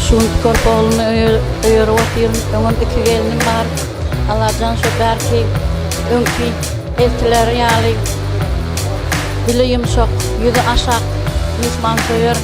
Şunt görip ogluny öýerip otyryn. Öňem iki gelnim bar. Allajan şo bärki öňki eltileri ýaly dili ýumşak, ýüzi aşak myhmansöýer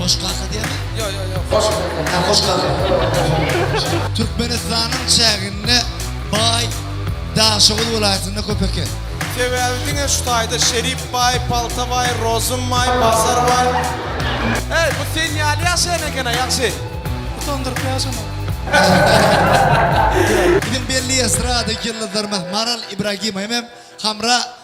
Hoş kaka diýýärmi? Ýok, ýok, ýok. Hoş kaka. Hä, hoş kaka. Türkmenistanyň çäginde baý Daşoguz welaýatynda köp eken. Sebäbi diňe şu taýda Şerip baý, Palta baý, Rozum baý, Bazar baý. Eý, bu sen ýaly ýaşaýan eken-a, ýagşy. Utandyryp ýaşama. Biziň belli estrada ýyldyzlarymyz Maral Ibragimowa hem Hamra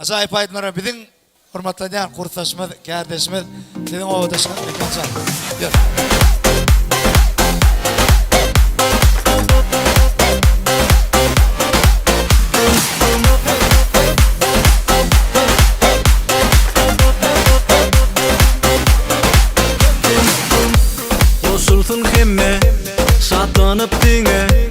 Ajaýyp aýdymlara biziň hormatlanýan kursdaşymyz, kärdeşimiz, siziň obadaşyňyz Mekan Şahyr. Goşulsyn hemme, şatlanyp diňe,